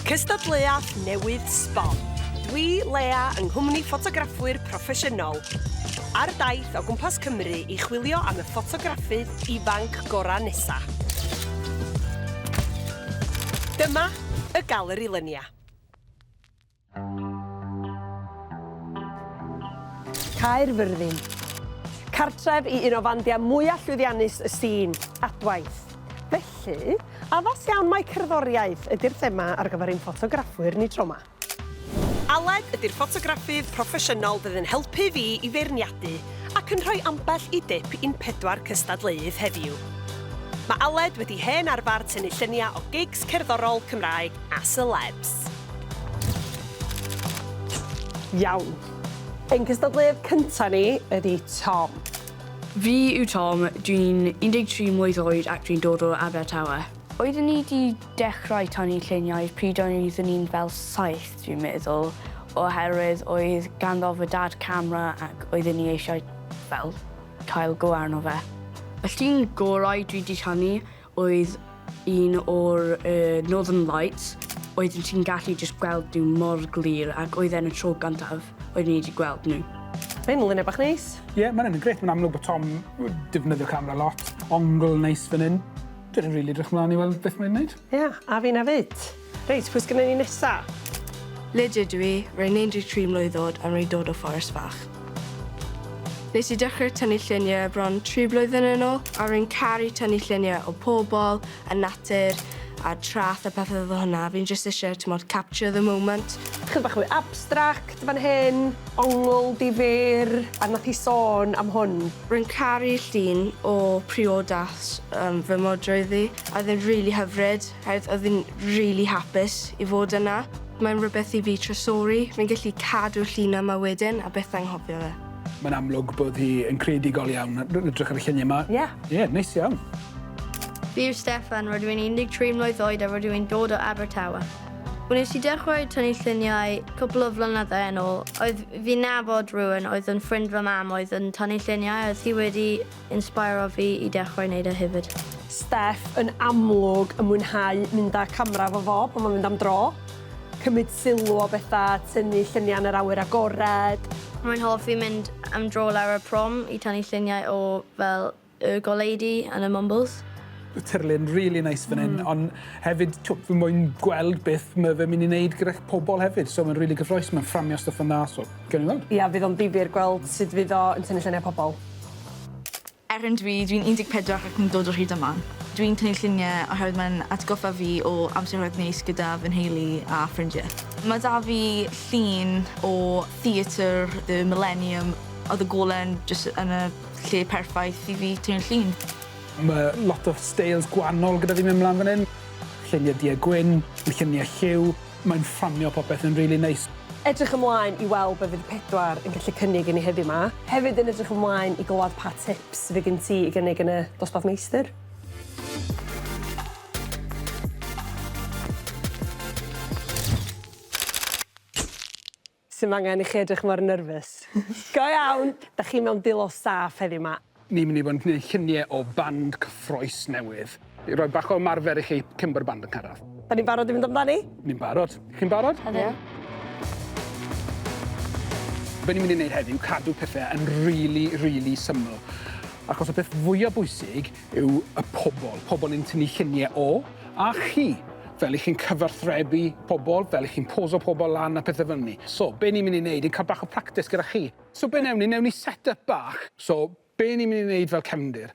Cystadleuaeth newydd sbon. Dwi, Lea, yng nghwmni ffotograffwyr proffesiynol, ar daith o gwmpas Cymru i chwilio am y ffotograffydd ifanc gorau nesa. Dyma y galeri lynia. Caerfyrddin. Cartref i un o fandiau mwyaf llwyddiannus y sîn, Adwaith. Felly, addas iawn mai cerddoriaeth ydy'r thema ar gyfer ein ffotograffwyr ni tro 'ma. Aled ydy'r ffotograffydd proffesiynol fydd yn helpu fi i feirniadu ac yn rhoi ambell i dip i'n pedwar cystadleuydd heddiw. Mae Aled wedi hen arfer tynnu lluniau o gigs cerddorol Cymraeg a selebs. Iawn. Ein cystadleuadd cyntaf ni ydi Tom. Fi yw Tom, dwi'n 13 mlwydd oed ac dwi'n dod o Abertawe. Oeddwn i 'di dechrau tanu lluniau pryd oeddwn i'n fel saith dwi'n meddwl oherwydd oedd ganddo fy dad camera ac oeddwn i eisiau fel cael go arno fe. Os ti'n gorau dwi 'di tanu oedd un o'r yy Northern Lights oeddwn ti'n gallu jyst gweld nhw mor glir ac oedd e'n y tro gyntaf oeddwn i 'di gweld nhw. Mae hyn yn lunio bach neis. Ie, mae'n yn grêt. Mae'n amlwg bod Tom yn defnyddio camera lot. Ongl neis fan hyn. Dwi rili edrych mlaen i weld beth mae'n wneud. Ie, a finna 'fyd. Reit, pwy sgynnon ni nesa? Lydia dw i, rwy'n 13 mlwydd oed a rwy'n dod o Fforest Fach. Nes i dechrau tynnu lluniau bron 3 blwyddyn yn ôl a rwy'n caru tynnu lluniau o pobl, a natur, a traeth a pethau fel hwnna. Fi'n jyst eisiau, timod, capture the moment. Chydig bach mwy abstract fan hyn, ongl difyr, a wnaeth hi sôn am hwn. Rwy'n caru llun o priodas fy modrwy fi, a oedd e'n rili hyfryd. Odd odd i'n rili hapus i fod yna. Mae'n rwbeth i fi trysori, fi'n gallu cadw'r llun yma wedyn a byth anghofio fe. Mae'n amlwg bod hi yn creadigol iawn, rwy'n edrych ar y lluniau yma. Ie. Ie, neis iawn. Fi yw Steffan, rydw i'n 13 mlwydd oed a rydw i'n dod o Abertawe. Wnes i dechrau tynnu lluniau cwpl o flynyddau yn ôl, oedd fi'n nabod rhywun oedd yn ffrind fy mam oedd yn tynnu lluniau a oedd hi wedi Insbeirio fi i dechrau neud e hefyd. Steff yn amlwg yn mwynhau mynd â camera efo fo pan mae'n mynd am dro. Cymryd sylw o bethau, tynnu lluniau yn yr awyr agored. Rwy'n hoffi mynd am dro lawr y prom i tynnu lluniau o fel y goleudy yn y Mumbles. Y tirlun rili neis fan hyn ond hefyd twp fi moyn gweld beth mae fe'n mynd i wneud gyda'ch pobl hefyd so mae'n rili gyffroes mae'n fframio stwff yn dda so gawn ni weld. Ia fydd o'n difyr gweld sut fydd o yn tynnu lluniau pobl. Er yn dwi, dwi'n 14 ac yn dod o Rhydyman. Dwi'n tynnu lluniau oherwydd mae'n atgoffa fi o amseroedd neis gyda fy nheulu a ffrindiau. Mae 'da fi llun o Theatr y Mileniwm, oedd y golen jyst yn y lle perffaith i fi tynnu llun. Mae lot o steils gwannol gyda fi mynd mlan fan hyn. Lluniau du a gwyn, lluniau lliw. Mae'n fframio popeth yn rili neis. Edrych ymlaen i weld be fydd pedwar yn gallu cynnig i ni heddiw 'ma. Hefyd yn edrych ymlaen i glywed pa tips fydd gen ti i gynnig yn y dosbarth meistr. Sim angen i chi edrych mor nyrfys. Go iawn! Dach chi mewn dulo saff heddiw 'ma. Ni'n mynd i fod yn gwneud llunie o band cyffroes newydd. I roi bach o ymarfer i chi cyn bo'r band yn cyrradd. Da ni'n barod i fynd amdani? Ni'n barod. Chi'n barod? Ydyn. Be' ni'n mynd i neud heddiw, cadw pethe yn rili rili syml. Achos y peth fwya bwysig yw y pobl, pobl ni'n tynnu lluniau o, a chi, fel 'y chi'n cyfathrebu pobl, fel 'y chi'n poso pobl lan a pethe fel 'ny. So, be' ni'n mynd i neud yw ca'l bach o practis gyda chi. So be' newn ni, newn ni set up bach. So, be' ni'n mynd i neud fel cefndir?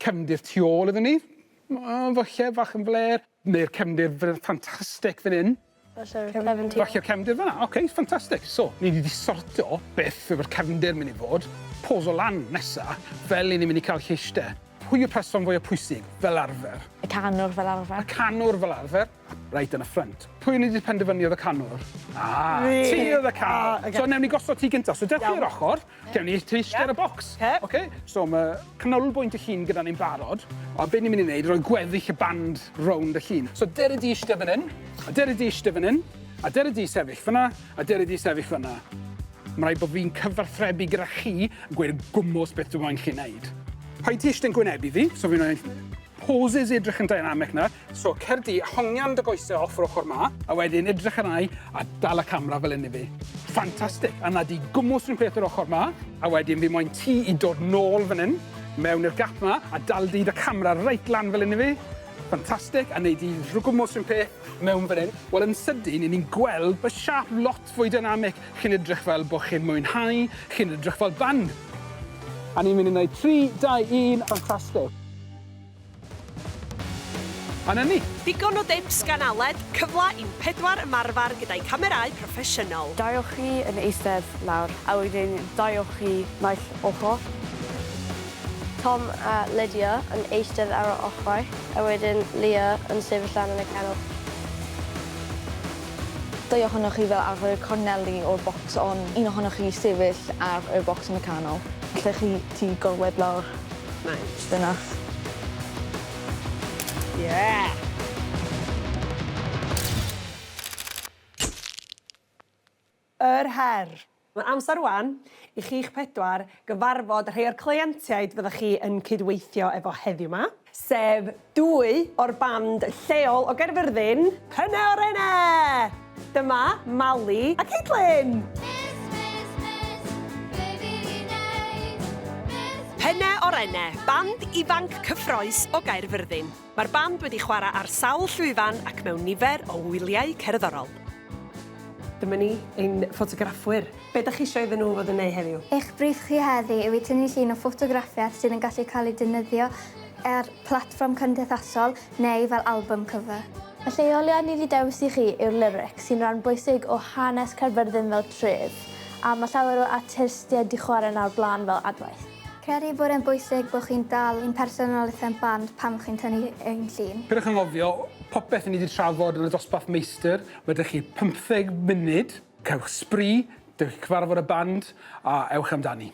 Cefndir tu ôl iddon ni, falle, fach yn flêr, neu'r cefndir ffantastig fan 'yn. Falle cefndir. Falle cefndir fanna. Oce, okay, ffantastig. So, ni wedi sortio beth yw'r cefndir mynd i fod. Pos o lan nesa, fel i ni mynd i cael lleiste. Pwy yw'r person fwyaf pwysig, fel arfer? Y canwr fel arfer. Y canwr fel arfer. Right yn y ffrant. Pwy ni wedi penderfynu oedd y canwr? Ah, ti oedd y canwr. Ah, so, newn ni gosod ti gynta. So, dewch i'r ochr. Gewn ni twist ar y bocs. Oce, so ma' canolbwynt y llun gyda ni'n barod, a be' ni myn' i neud roi gweddill y band rownd y llun. So dere di ishte fan 'yn, a dere di ishte fan 'yn, a dere di sefyll fan 'na, a dere di sefyll fan 'na. Ma' raid bo' fi'n cyfarthrebu gyda chi, gweud y gwmws beth dwi moyn chi neud. Rhaid ti ishte yn gwynebu fi, so fi'n roi poses i edrych yn dynamic nawr. So, cer di, hongian dy goesau off yr ochr ma. A wedyn edrych yn ai a dal y camera fel hyn i fi. Ffantastig! A na di gwmwys rhywun peth yr ochr ma. A wedyn fi moyn ti i dod nôl fan hyn, mewn i'r gap ma, a dal di dy camera reit lan fel hyn i fi. Ffantastig, a wneud i rhyw gwmwys rhywun peth mewn fan hyn. Wel, yn sydyn, i ni'n gweld bod siap lot fwy dynamic. Chi'n edrych fel bod chi'n mwynhau, chi'n edrych fel band. A ni'n mynd i wneud 3, 2, 1, ffantastig. A 'na ni! Digon o dips gan Aled, cyfle i'n pedwar ymarfer gyda'i camerâu proffesiynol. Daiwch chi yn eistedd lawr. A wedyn daiwch chi naill ochr. Tom a Lydia yn eistedd ar yr ochrau, a wedyn Leah yn sefyll lan yn y canol. Dau ohonoch chi fel arfer y corneli o'r bocs ond un ohonoch chi sefyll ar y bocs yn y canol. Allech chi tŷ gorwedd lawr? Mae. Dyna. Yeah! Yr her! Mae'n amser rwan i chi'ch pedwar gyfarfod rhai o'r cleientiaid fyddech chi yn cydweithio efo heddiw 'ma, sef dwy o'r band lleol o Gaerfyrddin, Pryne Orene! Dyma Mali a Caitlin! Penne Orenne, band ifanc cyffrous o Gaerfyrddin. Mae'r band wedi chwarae ar sawl llwyfan ac mewn nifer o wyliau cerddorol. Dyma ni, ein ffotograffwyr. Be dach chi isio iddyn nhw fod yn ei heddiw? Eich briff chi heddi yw i tynnu llun o ffotograffiaeth sydd yn gallu cael ei defnyddio ar platfform cymdeithasol, neu fel albwm cyfa. Y lleoliad ni 'di dewis i chi yw'r lyrics, sy'n ran bwysig o hanes Caerfyrddin fel tref, a mae llawer o artistiaid 'di chwarae 'na o'r blaen fel adwaith. Credu bod e'n bwysig bod chi'n dal i'n personoliaeth a'n band pan chi'n tynnu ein llun. Peidiwch â anghofio, popeth ni 'di trafod yn y dosbarth meistr, ma' 'da chi pymtheg munud, cewch sbri, dewch i cyfarfod y band, a ewch amdani.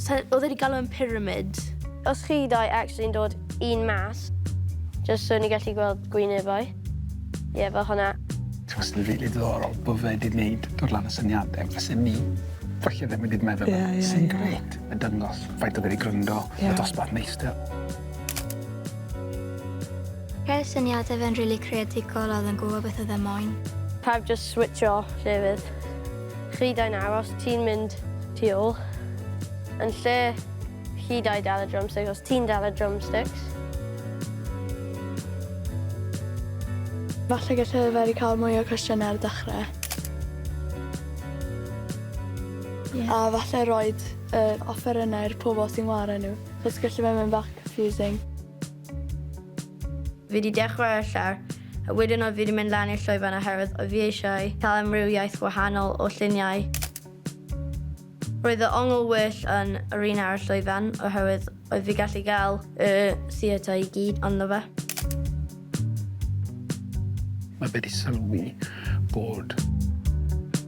Sa- oedd e wedi galw e'n pyramid. Os chi dau actually yn dod un mas. Jyst so ni gallu gweld gwynebau. Ie fel hwnna. Twas yn rili diddorol bo fe 'di neud dod lan y syniade fyse ni falle ddim wedi meddwl am. Ie ie ie. Sy'n grêt yn dangos faint o fe 'di gryndo. Ie. Y dosbarth meistr. Roedd syniade fe'n rili creadigol a oedd yn gwbo beth oedd e moyn. Pawb jyst switsio llefydd. Llwydai'n aros, ti'n mynd tu ôl. Yn lle llwydau dal y drumsticks, os ti'n dal y drumsticks. Falle gallai ddyfaru cael mwy o cwestiynau ar y dechrau. Ie. A falle roid yr offerynnau i'r pobl sy'n ware nhw, achos gallu fe mynd bach confusing. Fi wedi dechrau ar y llawr, a wedyn oedd fi wedi mynd lan i'r llwyfan oherwydd oedd fi eisiau cael amrywiaeth wahanol o lluniau. Roedd y ongl well yn yr un ar y llwyfan oherwydd oedd fi gallu cael y theatr i gyd ynddo fe. Mae fe 'di sylwi bod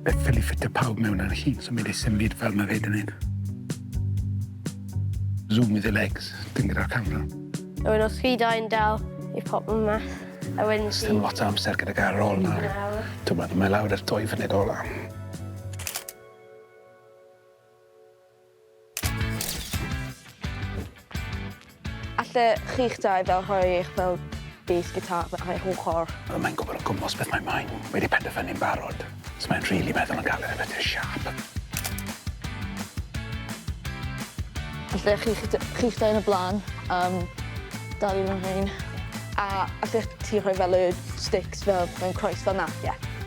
y ffili ffitio pawb mewn ar y llun, so mae 'di symud fel mae fe 'di neud. Zoom with the legs, dim gyda'r camera. A wedyn os chi dau'n dal i pop yma, a wedyn ti... Sdim lot o amser gyda gair ar ôl na. Dyma, mae lawr ar dwy funud ola. Alle chi'ch dau fel rhoi eich fel bês gitar fe- ar eich ochor? Wel mae'n gwybod o gwmws beth mae mae'n wedi penderfynu'n barod. So mae'n rili meddwl yn galed ar beth yw'r siâp. Alle chi'ch d- chi'ch dau yn y bla'n yym dal i fy nhraed. A allech ti rhoi fel y sticks fel mewn croes fel 'na? Ie.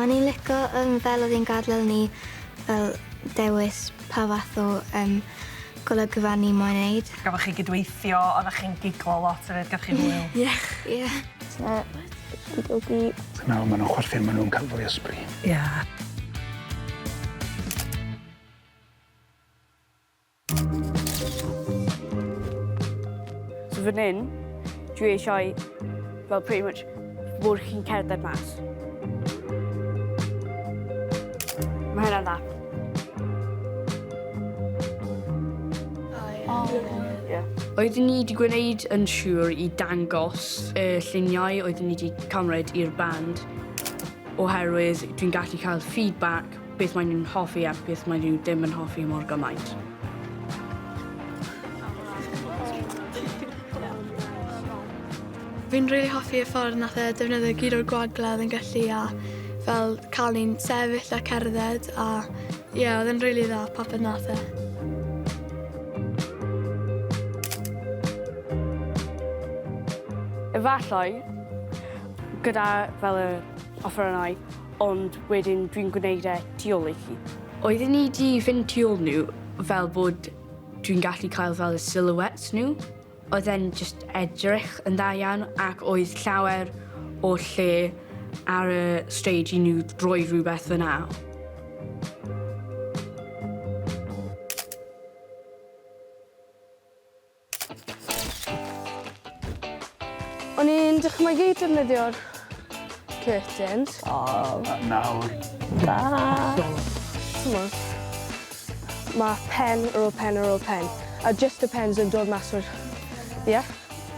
O'n i'n lico yym fel odd 'i'n gadel ni fel dewis pa fath o yym golygfa ni moyn neud. Gafoch chi gydweithio, oddach chi'n giglo lot efyd gafoch chi hwyl? Ie ie. T'mo' fi'n dod i... Ti'n meddwl ma' nw'n chwerthin ma' nw'n ca'l fwy o sbri. Ie. So fan hyn, dwi eisiau, well, pretty much, bod chi'n cerdded mas. Mae hynna'n dda. Oh, yeah. Oeddwn ni wedi gwneud yn siŵr i dangos y lluniau oeddwn ni wedi cymryd i'r band oherwydd dwi'n gallu cael feedback Beth maen nhw'n hoffi a beth maen nhw ddim yn hoffi mor gymaint. Fi'n rili hoffi y ffordd nath e defnyddio gyd o'r gwagledd yn gallu a fel cael ni'n sefyll a cerdded a ie, oedd e'n rili dda papur nath e. Efallai, gyda fel yr offerynnau, Ond wedyn dwi'n gwneud e tu ôl i chi. Oedden ni 'di fynd tu ôl nhw fel bod dwi'n gallu cael fel y silhouettes nhw. Oedd e'n just edrych yn dda iawn ac oedd llawer o lle ar y stage i nhw droi rhywbeth fyna. O'n i'n dychmygu defnyddio'r curtains. O, nawr. Da. T'mod, ma' pen ar ôl pen ar ôl pen, a jyst y pens yn dod mas o'r... Ie?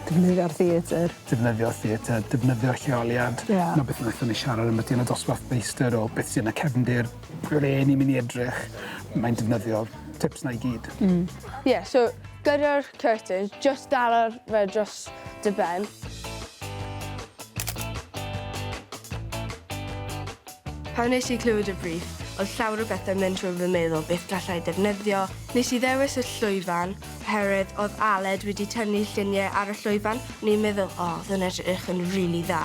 Defnyddio'r theatr. Defnyddio'r theatr, defnyddio'r lleoliad. Ie. 'Na beth naethon ni siarad ambyti yn y dosbarth feistr o beth sy yn y cefndir. Ble ni'n mynd i edrych, mae'n defnyddio tips 'na i gyd. Mm. Ie, so gyda'r curtain, jyst dala fe dros dy ben. Pan nes i clywed y briff, oedd llawer o bethau'n mynd trwy fy meddwl beth gallai defnyddio. Nes i ddewis y llwyfan, oherwydd oedd Aled wedi tynnu lluniau ar y llwyfan, o'n i'n meddwl, o, oedd yn edrych yn rili dda.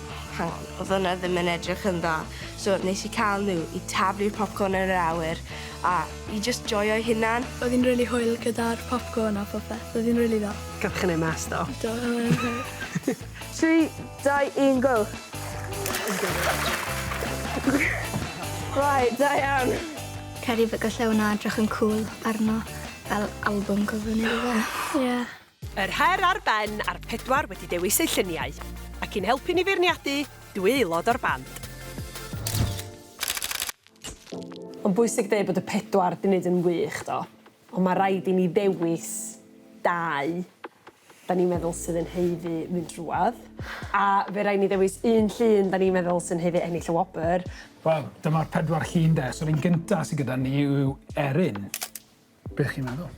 Hang on, odd hwnna ddim yn edrych yn dda. So nes i ca'l n'w i taflu'r popcorn yn yr awyr a i jyst joio'u hunan. Oedd hi'n rili hwyl gyda'r popcorn a phopeth, oedd hi'n rili dda. Gaf chi neud mess do? Do oedd e'n hwyl. Tri, dau, un, go! Right, da iawn. Credu fe- galle wnna edrych yn cŵl arno fel albwm cover ne' rwbeth. Ie. Yr her ar ben a'r pedwar wedi dewis eu lluniau, ac i'n helpu ni feirniadu, dwy aelod o'r band. Mae'n bwysig deud bod y pedwar 'di neud yn wych do, ond mae rhaid i ni ddewis dau 'dan ni'n meddwl sydd yn haeddu mynd drwodd, a fe rai' ni ddewis un llun 'dan ni'n meddwl sy'n haeddu ennill y wobr. Wel, dyma'r pedwar llun de, so'r un gynta sy gyda ni yw Erin. Be chi'n meddwl?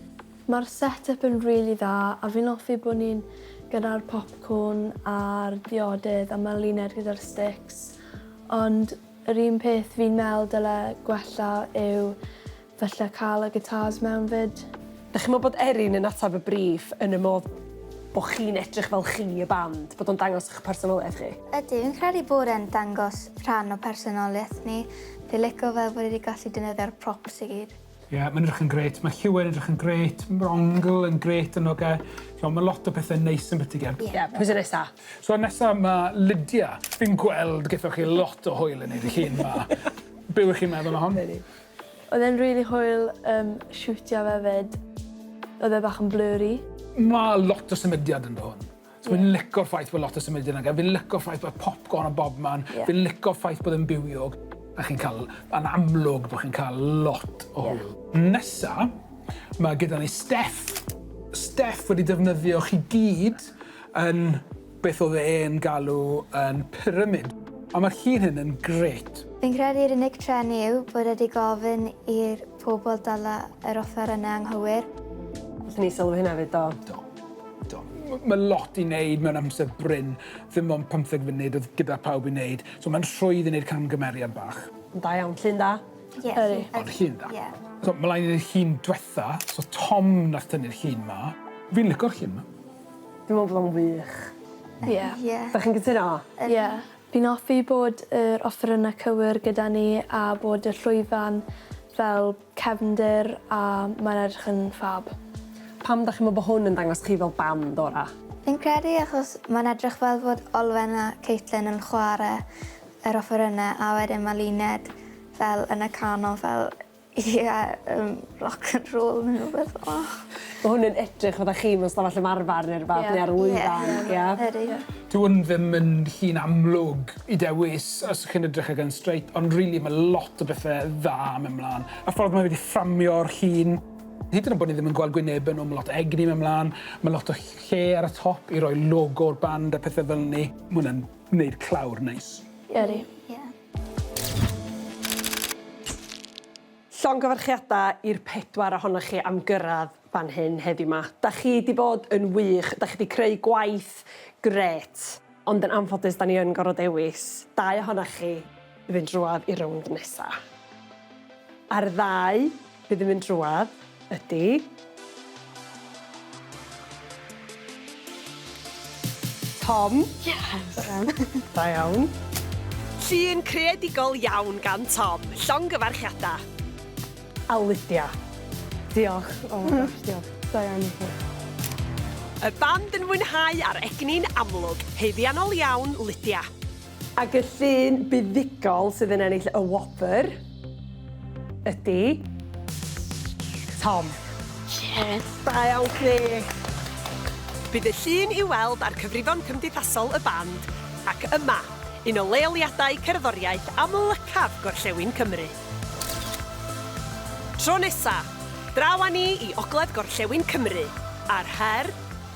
Mae'r set up yn rili dda a fi'n hoffi bod ni'n gyda'r popcorn a'r diodydd a ma' Luned gyda'r sticks ond yr un peth fi'n meddwl dyle gwella yw falle cael y guitars mewn 'fyd. Dych chi'n meddwl bod Erin yn ateb y briff yn y modd bod chi'n edrych fel chi y band, bod o'n dangos eich personoliaeth chi? Ydy, fi'n credu bod e'n dangos rhan o personoliaeth ni. Fi'n licio fel bod ni wedi gallu defnyddio'r props i gyd. Ie, yeah, mae'n edrych yn gret. Mae Hugh yn edrych yn gret. Mae Ongl yn gret yn oge. So, mae lot o pethau neis yn byti gen. Ie, yeah, pwy sy'n nesa? So, nesa mae Lydia. Fi'n gweld gyda chi lot o hwyl yn ei dy hun ma. Be wych chi'n meddwl o hon? Oedd e'n really hwyl um, siwtio fe fyd. Oedd e bach yn blurry. Mae lot o symudiad yn dod hwn. So fi'n lico'r ffaith bod lot o symud yn agor, fi'n lico'r ffaith bod popcorn o bob man, yeah. fi'n lico'r ffaith bod yn bywiog, a chi'n cael, yn amlwg bod chi'n cael lot o hwyl. Yeah. Nesa, mae gyda ni Steff. Steff wedi defnyddio chi gyd yn beth oedd e'n galw yn pyramid. A mae'r llun hyn yn gret. Fi'n credu'r unig tren yw bod wedi gofyn i'r Pobl dala yr offerynnau anghywir. Allwn ni sylwi hynna 'fyd, do. Do. Do. M- mae lot i wneud mewn amser brin. Ddim ond pymtheg funud oedd gyda pawb i wneud, so mae'n rhwydd i wneud camgymeriad bach. Yn da iawn. Llun da. Ie, llun da. Ond llun da. Ie. So, mlaen i'r llun dwetha. So, Tom nath tynnu'r llun 'ma. Fi'n licio'r llun 'ma. Fi'n meddwl bod o'n wych. Ie. Ie. Dach chi'n cytuno? Ie. Fi'n hoffi bod yr offerynnau cywir gyda ni a bod y llwyfan fel cefndir a mae'n edrych yn ffab. Pam dach chi'n meddwl bod hwn yn dangos chi fel band orau? Fi'n credu achos mae'n edrych fel fod Olwen a Caitlin yn chwarae yr offerynnau a wedyn mae Luned fel yn y canol fel Ie yym rock and roll ne' rwbeth fel 'a. Ma' hwn yn edrych fatha chi mewn stafell ymarfar ne' rwbath ne' ar y lwyfan. Ie. Ie. Yr un. Dyw 'wn ddim yn llun amlwg i dewis os chi'n edrych ar Gun Straight ond rili ma' lot o bethe dda yn myn' mlan. Y ffordd ma' fe 'di fframio'r llun, hyd yn o'd bo' ni ddim yn gweld gwyneb e, ma' lot o egni myn' mlan, ma' lot o lle ar y top i roi logo'r band a pethe fel 'ny. Ma' wnna'n neud clawr neis. Ydi. Ie. Llongyfarchiadau i'r pedwar ohonoch chi am gyrraedd fan hyn heddiw 'ma. Da chi 'di bod yn wych, da chi 'di creu gwaith grêt, ond yn anffodus da ni yn gorfod dewis dau ohonoch chi i fynd drwodd i'r rownd nesa'. A'r ddau Bydd yn mynd drwadd, ydy. Tom. Yes! Da iawn. Llun creadigol iawn gan Tom. Llongyfarchiadau. A Lydia. Diolch. Oh my gosh, diolch. Da iawn i chi. Y band yn mwynhau a'r egni'n amlwg. Haeddiannol iawn, Lydia. Ac y llun buddugol sydd yn ennill y wobr ydy... Tom. Cheers. Da iawn chdi! Bydd y llun i'w weld ar cyfrifon cymdeithasol y band ac yma, un o leoliadau cerddoriaeth amlycaf gorllewin Cymru. Tro nesa, draw â ni i ogledd gorllewin Cymru, a'r her,